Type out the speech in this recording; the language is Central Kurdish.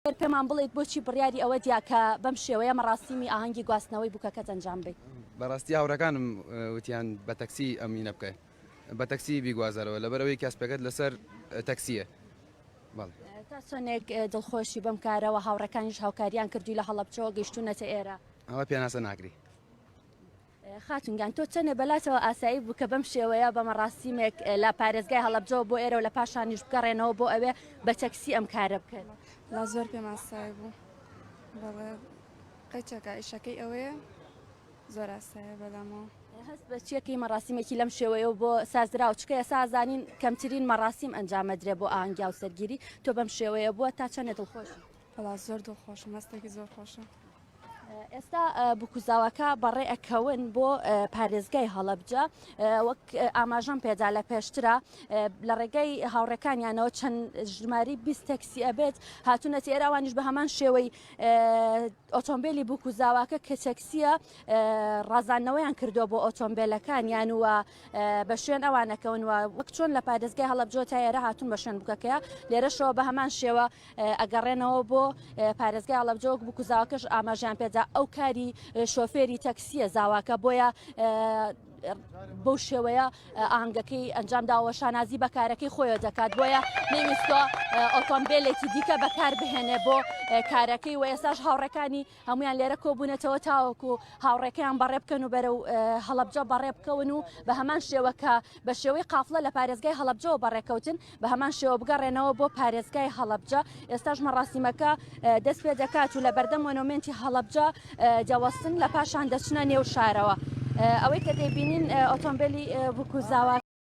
گەر پێمان بڵێیت بۆچی بڕیاری ئەوە دیا کە بەم شێوەیە مەڕاسیمی ئاهەنگی گواستنەوەی بووکەکەت ئەنجام بەیت؟ بەڕاستی هاوڕێکانم وتیان بە تەکسی ئەمینە بکە بە تەکسی بیگوازەرەوە لەبەر ئەوەی کاسپەکەت لەسەر تەکسیە تا چۆنێک دڵخۆشی بەم کارەوە هاوڕەکانیش هاوکاریان کردووی لە هەڵەبچەوە گەشتونەتە ئێرە ئەوە پێناسە ناکری. خاتون گیان تۆ چەنێ بەلاتەوە ئاسایی بوو کە بەم شێوەیە بە مەڕاستیمێک لە پارێزگای هەڵەبجەوە بۆ ئێرە و لە پاشانیش بگەڕێنەوە بۆ ئەوێ بە تەکسی ئەم کارە بکەن لا زۆر پێم ئاسایی بوو بەڵێ قەچەکە ئیشەکەی ئەوەیە زۆر ئاسایە بەلامەوە هەست بە چیەکەی مەڕاستیمێکی لەم شێوەیە و بۆ سازرا و چکەیە سازانین کەمترین مەڕاستیم ئەنجامەدرێ بۆ ئانگیا و سەرگیری تۆ بەم شێوەیە بووە تا چەندێت دڵخۆش وەڵا زۆر دڵ خۆشم هەستێکی زۆر خۆشە. ئێستا بکوزاوەکە بەڕێ ئەکەون بۆ پارێزگای هەڵەبجە وەک ئاماژەم پێدا لە پێشترا لە ڕێگەی هاوڕەکانیانەوە چەند ژماری بیست تەکسی ئەبێت هاتوونەتی ئێراوانیش بە هەمان شێوەی ئۆتۆمبیلی بکوزاواکە کە تەکسیە ڕازانەوەیان کردو بۆ ئۆتۆمبیلەکان یان وە بە شوێن ئەوانەکەون وە وەک چۆن لە پارێزگای هەڵەبجۆ تا ئێرە هاتون بە شوێن بکەکەیە لێرەشەوە بە هەمان شێوە ئەگەڕێنەوە بۆ پارێزگای ئاڵەبجە وەک بکوزاوکەش ئاماژیان پێدا ئەو کاری شۆفێری تەکسیە زاواکە بۆیە بەو شێوەیە ئاهنگەکەی ئەنجامداوە شانازی بە کارەکەی خۆیە دەکات بۆیە نەویستوە ئۆتۆمبیلێکی دیکە بەکار بهێنێ بۆ کارەکەی و ئێساش هاوڕەکانی هەموویان لێرە کۆبوونەتەوە تاوەکو هاوڕێکەیان بەڕێ بکەن و بەرەو هەڵەبجە بەڕێ بکەون و بە هەمان شێوە کە بە شێوەی قافلە لە پارێزگای هەڵەبجەوە بەڕێکەوتن بە هەمان شێوە بگەڕێنەوە بۆ پارێزگای هەڵەبجە ئێستاش مەڕاستیمەکە دەست پێ دەکات و لە بەردەم مۆنۆمنتی هەڵەبجە دەوەستن لە پاشان دەچنە نێو شارەوە ئەوەی کە دەبینین ئۆتۆمبیلی بکوزاوە